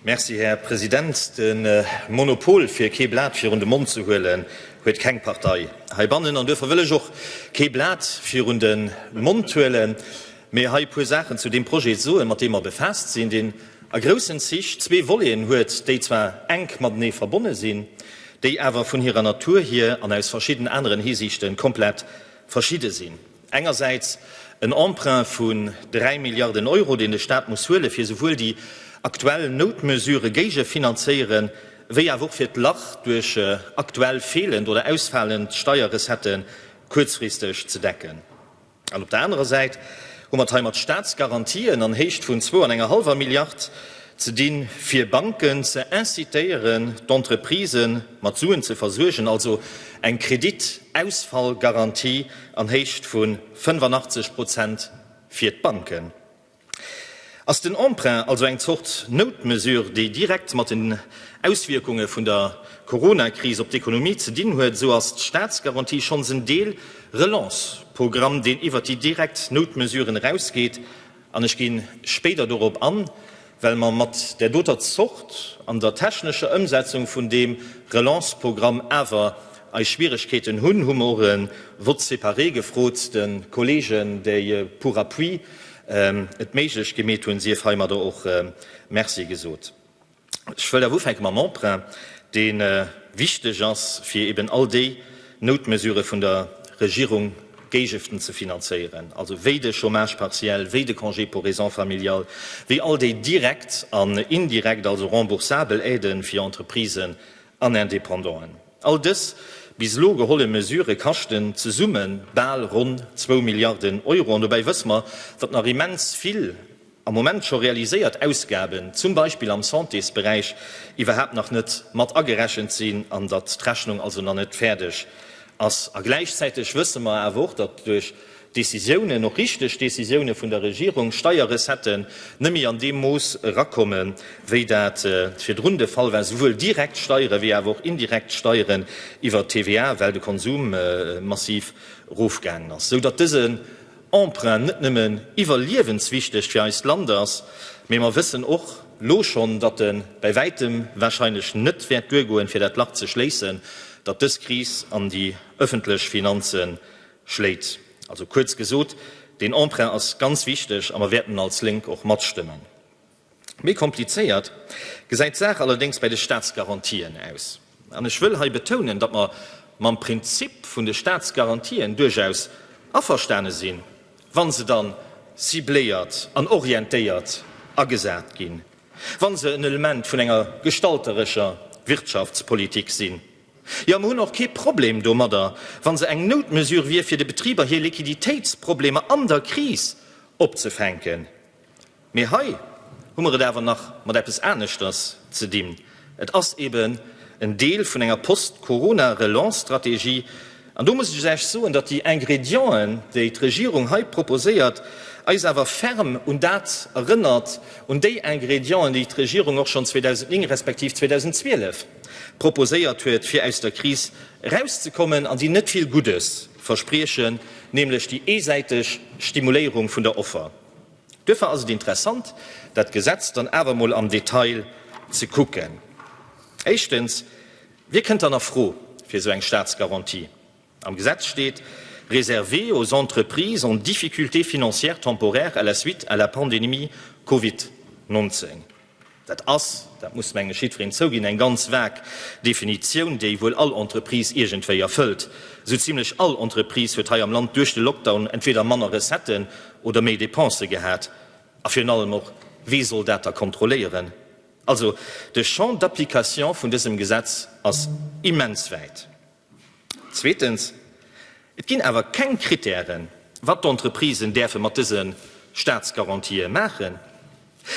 Merci, Här President. De Monopol, fir kee Blat virun de Mond ze huelen, huet keng Partei heibannen. An duerfir wëll ech och kee Blat virun de Mond huelen, mee hei e puer Saachen zu deem Projet soen, mat deem mer befaasst sinn, deen a groussen Zich zwee Voleten huet, déi zwar enk matenee verbonne sinn, déi awer vun hirer Natur hier an aus verschidden aneren Hisiichte komplett verschidde sinn. Engersäits en Emprunt vun 3 Milliarden Euro, deen de Staat muss huelen, fir souwuel déi aktuell Noutmesure géigefinanzéieren, wéi awer och fir d'Lach duerch aktuell feelend oder ausfalend Steierrecettë kuerzfristeg ze decken. An op der anerer Säit hu mer et hei mat Staatsgarantien an Héicht vun zwou an enger hallwer Milliard ze dinn, fir Banken ze incitéieren, d'Entreprisë mat Suen ze versuergen, also eng Kreditausfallgarantie an Héicht vu 85 Prozent fir d'Banken. Ass den Emprunt also eng Zort Noutmesure, déi direkt mat den Auswierkunge vun der Coronakris op d'Ekonomie ze dinn huet, esou ass d'Staatsgarantie schonns en Deel-Relance-Programm, deen iwwert déi direkt Noutmesuren erausgeet An ech gi spéider dorop an, well mer mat där doter Zort an der technescher Ëmsetzung vun deem Relanceprogramm awer eis Schwieregkeeten hunn, hu mer och e Vote séparé gefrot, de Kolleegen, déi pour appui et méiglech gemeet hunn, sief heimadder och Merci gesot. Ech wëll awer ufänke mam Emprunt, dee wichteg ass, fir eben all déi Noutmesurë vun der Regierung géigefen ze finanzéieren, also wéi de Chômage partiel, wéi de Congé pour raisons familiales, wéi all déi direkt an indirekt, also remboursabel Aidë fir Entreprisen an Indépendanten. All dës bis elo geholle Mesurë kaschten zesumme bal ronn zwou Milliarden Euro. An dobäi wësse mer, datt nach immens vill, am Moment scho realiséiert Ausgaben, zum Beispill am Santésberäich, iwwerhaapt nach net mat agerechent sinn an datt d'Rechnung also nach net fäerdeg ass. A gläichzäiteg wësse mer awer och, datt duerch Décisiounen, och richteg Décisiounen vun der Regierung, Steierrecetten net méi an deem Mooss erakomme wéi dat virdrun de Fall war, souwuel direkt Steiere wéi awer och indirekt Steieren iwwer d'TVA, well de Konsum massiv erofgaangen ass, sou datt dësen Emprunt net nëmmen iwwerliewenswichteg fir eist Land ass, mee mer wëssen och lo schonn, datt e bäi wäitem wahrscheinlech net wäert duergoen, fir dat Lach ze schléissen, dat dës Kris an déi ëffentlech Finanze schléit. Also kuerz gesot, deen Emprunt ass ganz wichteg a mer wäerten als Lénk och matstëmmen. Méi komplizéiert gesäit d'Saach allerdéngs bei de Staatsgarantien aus. An ech wëll hei betounen, datt mer mam Prinzip vun de Staatsgarantien duerchaus averstane sinn, wa se da cibléiert an orientéiert agesat ginn, wa se en Element vun enger gestalterescher Wirtschaftspolitik sinn. Jo, mer hunn och kee Problem domadder, wa se eng Noutmesure wier, fir de Betriber hir Liquiditéitsproblemer an der Kris opzefänken. Mee hei hu mer et awer nach mat eppes aneschters ze dinn. Et ass eben en Deel vun enger Post-Corona-Relance-Strategie. An do muss ech Iech soen, datt déi Ingrédienten, déi d'Regierung hei proposéiert, eis awer ferm un dat erënnert, un déi Ingrédienten, déi d'Regierung och schonn 2009 respektiv 2012 proposéiert huet, fir aus der Kris erauszekommen, an déi net vill Guddes verspriechen, nämlech déi eesäiteg Stimuléierung vun der Offer. Duerfir ass et interessant, dat Gesetz dann awer emol am Detail ze kucken. Éischtens, Wie kënnt dann a Fro fir esou eng Staatsgarantie? Am Gesetz steet, Réservée aux entreprises en difficulté financière temporaire à la suite à la pandémie Covid 19. Dat ass, dat muss meng ech jiddwereen zouginn, eng ganz vag Definitioun, déi wuel all Entreprise iergendwéi erfëllt. Esou zimlech all Entreprise huet hei am Land duerch de Lockdown entweder manner Recetten oder méi Dépensë gehat. A virun allem och, wee soll dat da kontrolléieren? Also, de Champ d'application vun dësem Gesetz ass immens wäit. Zweetens, et ginn awer keng Kritären, wat d'Entreprisen däerfe mat dëse Staatsgarantië maachen,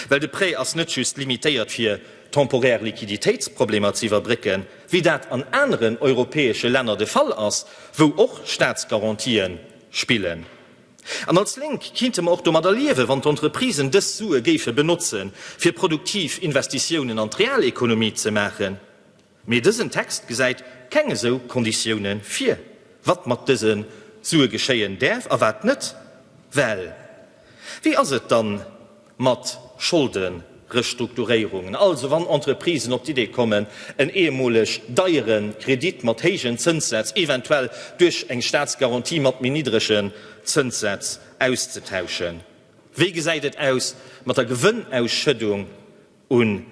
well de Prêt ass net just limitéiert fir temporär Liquiditéitsproblemer ze iwwerbrécken, wéi dat an aneren europäesche Länner de Fall ass, wou och Staatsgarantië spillen. An als Lénk kinnte mer och domadder liewen, wann d'Entreprisen dës Sue géife benotzen, fir produktiv Investitiounen an d'Realekonomie ze maachen. Mee dësen Text gesäit keng esou Konditioune vir, wat mat dëse Sue geschéien däerf a wat net. Well wéi ass et dann mat Scholderestrukturéierungen, also wann Entreprisen op d'Idee kommen, en eemoleg deiere Kredit mat héijen Zënssätz, eventuell duerch eng Staatsgarantie mat méi niddregen Zënssätz auszetauschen? Wéi gesäit et aus mat der Gewënnausschëddung? Un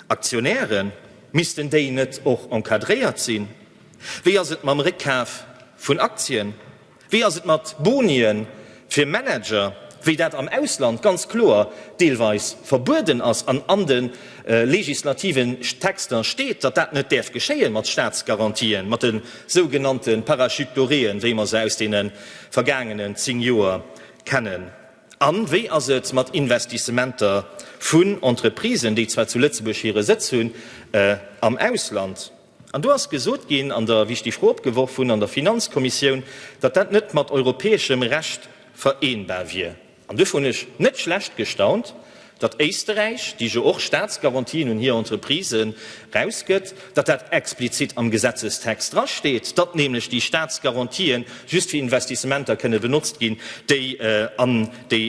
Aktionäre missten déi net och encadréiert sinn? Wéi ass et mam Réckkaf vun Aktien? Wéi ass et mat Bonie fir Manager, wéi dat am Ausland ganz kloer deelweis verbueden ass an an de legislativen Texter steet, datt dat net däerf geschéien mat Staatsgarantien, mat de sougenannte Parachute doréen, wéi mer se aus deene vergaangenen 10 Joer kennen? A wéi ass et mat Investissementer vun Entreprisen, déi zwar zu Lëtzebuerg hire Sëtz hunn, am Ausland? An do ass gesot ginn, an der, wéi ech déi Fro opgeworf hunn, an der Finanzkommissioun, datt dat net mat europäeschem Recht vereenbar wier. An duerfir hunn ech net schlecht gestaunt, datt Éisterräich, déi jo och Staatsgarantien un hir Entreprisë rausgëtt, datt dat explizit am Gesetzestext drasteet, datt nämlech déi Staatsgarantië just fir Investissementer kënne benotzt ginn, déi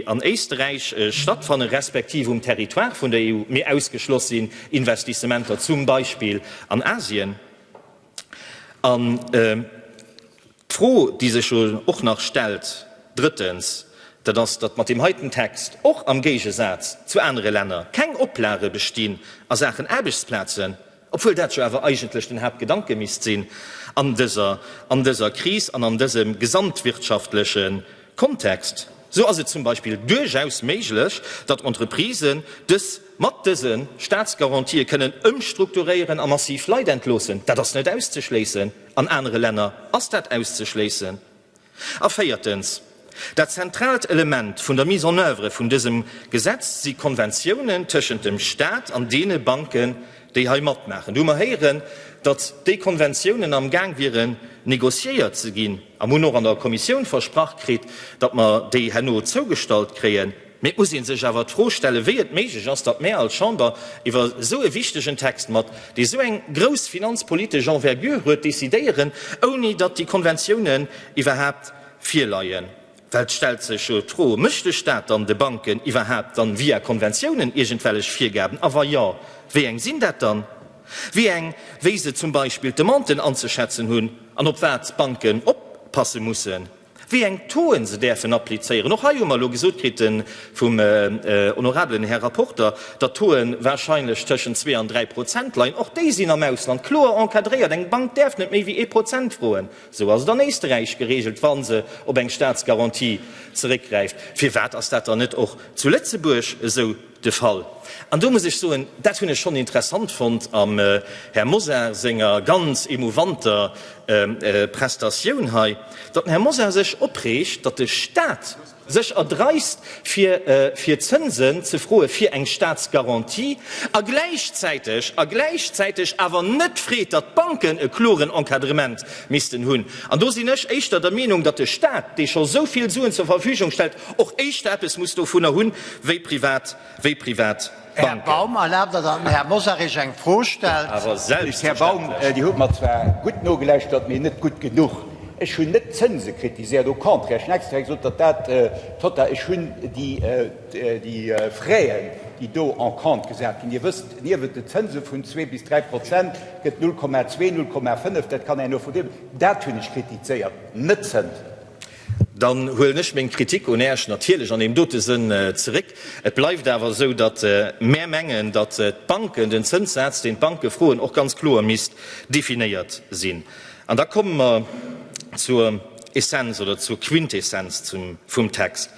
an Éisterräich stattfannen, respektiv um Territoire vun der EU, mee ausgeschloss sinn Investissementer zum Beispill an Asien. D'Fro, déi sech jo och nach stellt, drëttens, dat ass, datt mat deem heiten Text, och am Géigesaz zu anere Länner, keng Oplage bestinn a Saachen Aarbechtsplazen, obwuel dat jo awer eigentlech den Haaptgedanke misst sinn an dëser, an dëser Kris an an dësem gesamtwirtschaftleche Kontext. Sou ass et zum Beispill duerchaus méiglech, datt Entreprisen dës mat dëse Staatsgarantië kënnen ëmstrukturéieren a massiv Leit entloossen. Dat ass net auszeschléissen. An anere Länner ass dat auszeschléissen. A véiertens, dat zentraalt Element vun der Mise en oeuvre vun dësem Gesetz si Konventiounen tëschent dem Stat an deene Banken, déi hei matmaachen. Do hu mer héieren, datt déi Konventiounen amgaang wieren négociéiert ze ginn, a mer hunn och an der Kommissioun versprach kritt, datt mer déi herno zougestallt kréien. Mee et muss ee sech awer d'Fro stellen, wéi et méiglech ass, datt mär als Chamber iwwer esou e wichtegen Text mat, dee sou eng grouss finanzpolitesch Envergure huet, decidéieren, ouni datt déi Konventiounen iwwerhaapt virleien. Well et stellt sech jo d'Fro, Mécht de Stat dann de Banken iwwerhaapt dann via Konventiounen iergendwellech Virgaben? A wa jo, wéi eng sinn dat dann? Wéi eng? Wéi se zum Beispill d'Demanten anzeschätzen hunn an op wat d'Banken oppasse mussen? wéi eng Tauxen se däerfen applizéieren. Och hei hu mer elo gesot kritt vum honorabelen Här Rapporter, datt d'Tauxen wahrscheinlech tëschent zwee an dräi Prozent leien. Och déi sinn am Ausland kloer encadréiert. Eng Bank däerf net méi wéi ee Prozent froen. Esou ass et an Éisteräich geregelt, wa se op eng Staatsgarantie zeréckgräift. Firwat ass dat dann net och zu Lëtzebuerg esou? De Fall. An do muss ech soen, dat hunn ech schonn interessant fonnt am Här Mosar senger ganz émouvanter Prestatioun hei, datt den Här Mosar sech opreegt, datt de Stat sech erdreist, fir Zënsen ze froe fir eng Statsgarantie, a gläichzäiteg, a gläichzäiteg awer net freet, datt d'Banken e kloren Encadrement missten hunn. An do sinn ech éischter der Meenung, datt de Stat, dee scho souvill Suen zur Verfügung stellt, och éischter eppes muss dovunner hunn, wéi privat, wéi privat Banken. Här Baum, erlaabt Der, datt den Här Mosarich eng Fro stellt? Awer selbstverständlech. Dir hutt mer zwar gutt nogelauschtert, mee net gutt genuch. Ech hunn net d'Zënse kritiséiert, au contraire, ech hunn extra gesot, datt dat tota, ech hunn déi Fraisen, déi do en compte gesat ginn, Dir wësst, niewent de Zënse vun zwee bis dräi Prozent gëtt 0,2, 0,5, dat kann een och vu deem, dat hunn ech kritizéiert, net d'Zënsen. Dann huelen ech meng Kritik un Äerch natierlech an deem dote Sënn zeréck. Et bleift awer esou, datt mär mengen, datt d'Banken, den Zënssaz, deen d'Banke froen, och ganz kloer misst definéiert sinn. An da komme mer zur Essenz oder zur Quintessenz vum Text.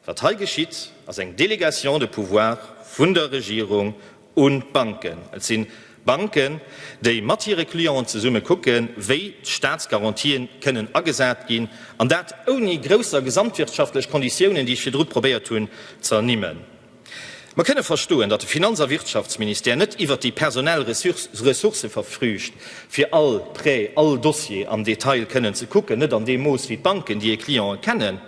Wat hei geschitt, ass eng Délégation de pouvoir vun der Regierung un d'Banken. Et si Banken, déi mat hire Clienten zesumme kucken, wéi d'Staatsgarantië kënnen agesat ginn, an dat ouni grousser gesamtwirtschaftlech Konditiounen, déi ech virdru probéiert hunn z'ernimmen. Mer kënne verstoen, datt de Finanz a Wirtschaftsministère net iwwert déi personell Ressourcë verfrügt, fir all Prêt, all Dossier am Detail kënnen ze kucken, net an deem Mooss wéi d'Banken, déi hir Cliente kennen.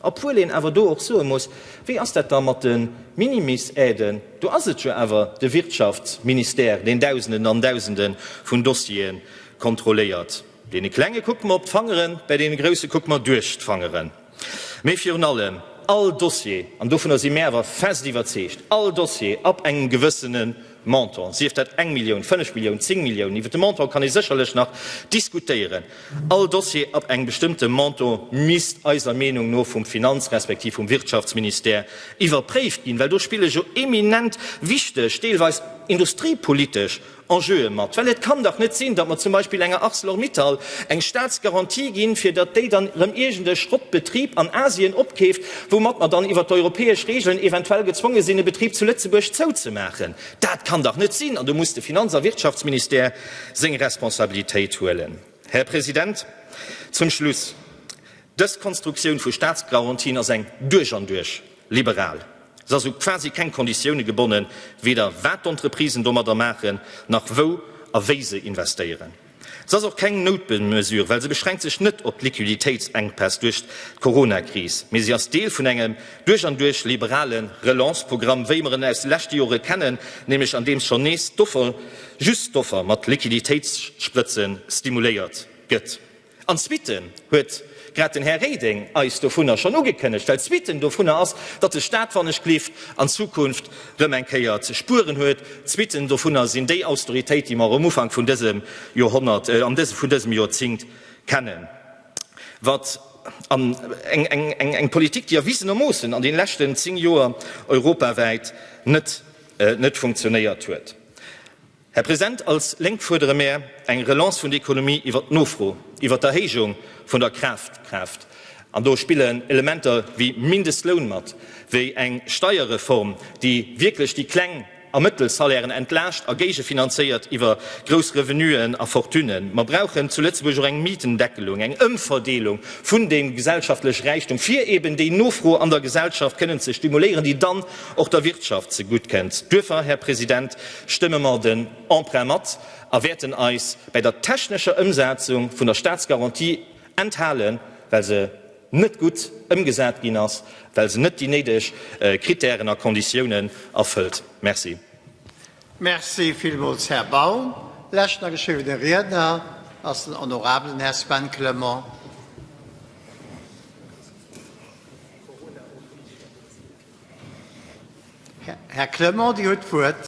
Obwuel een awer do och soe muss, Wéi ass dat da mat de Minimis-Aiden? Do ass et jo awer de Wirtschaftsministère, deen Dausenden an Dausende vun Dossiere kontrolléiert. Deene Klenge kucke mer op d'Fangeren, bäi deene Grousse kucke mer duerch d'Fangeren. Mee virun allem, All Dossier, an dovunner si mir awer fest iwwerzeegt, all Dossier ab engem gewëssene Montant, sief dat eng Millioun, fënnf Milliounen, zéng Milliounen, iwwert de Montant kann ee sécherlech nach diskutéieren. All Dossier ab engem bestëmmte Montant misst eiser Meenung no vum Finanz-, respektiv vum Wirtschaftsministère iwwerpréift ginn, well do spille jo eminent wichteg, deelweis industriepolitesch Enjeue mat. Well et kann dach net sinn, datt mer zum Beispill enger Arcelor-Mittal eng Staatsgarantie ginn, fir datt déi dann erëm iergendee Schrottbetrib an Asien opkeeft, woumat mer dann iwwert d'europäesch Regeln eventuell gezwonge sinn, e Betrib zu Lëtzebuerg zouzemaachen. Dat kann dach net sinn! An do muss de Finanz a Wirtschaftsministère seng Responsabilitéit huelen. Här President, zum Schluss, Dës Konstruktioun vu Staatsgarantien ass eng duerch an duerch liberal. Se ass u quasi keng Konditioune gebonnen, weder wat d'Entreprisen domadder maachen, nach wou a wéi se investéieren. Se ass och keng Noutmesure, well se beschränkt sech net op d'Liquiditéitsenkpäss duerch d'Coronakris, mee se ass Deel vun engem duerch an duerch liberale Relance-Programm, wéi mer en aus de leschte Jore kennen, nämlech andeems schonn nees d'Offer, just d'Offer, mat Liquiditéitssprëtze stimuléiert gëtt. An d'Suite huet. Grad den Här Reding eis dovunner schonn ugekënnegt, well d'Suite dovunner ass, datt de Stat, wann ech gleeft, an Zukunft rëm eng Kéier ze spueren huet. D'Suite dovunner sinn déi Austeritéit, déi mer um Ufank vun dësem Joerhonnert, vun dësem Joerzingt kennen. Wat eng Politik, déi erwisenermoossen an deene leschten zéng Joer europawäit net funktionéiert huet. Här President, als Lénk fuerdere mär eng Relance vun der Ekonomie iwwert d'Nofro, iwwert d'Erhéijung vun der Kafkraaft. An do spillen Elementer wéi Mindestloun mat, wéi eng Steierreform, déi wierklech déi kleng a mëttel Salairen entlaascht a géigefinanzéiert iwwer grouss Revenuen a Fortunen. Mer brauchen zu Lëtzebuerg och eng Mietendeckelung, eng Ëmverdeelung vun deem gesellschaftleche Räichtum, fir eben déi Nofro an der Gesellschaft kënnen ze stimuléieren, déi dann och der Wirtschaft ze gutt kënnt. Duerfir, Här President, stëmme mer den Emprunt mat a wäerten eis bäi der technescher Ëmsetzung vun der Staatsgarantie enthalen, well se net gutt ëmgesat ginn ass, well se net déi néideg Kritären a Konditiounen erfëllt. Merci. Merci villmools, Här Baum. Leschten ageschriwwene Riedner ass den honorabelen Här Sven Clement. Här Clement, Dir hutt d'Wuert.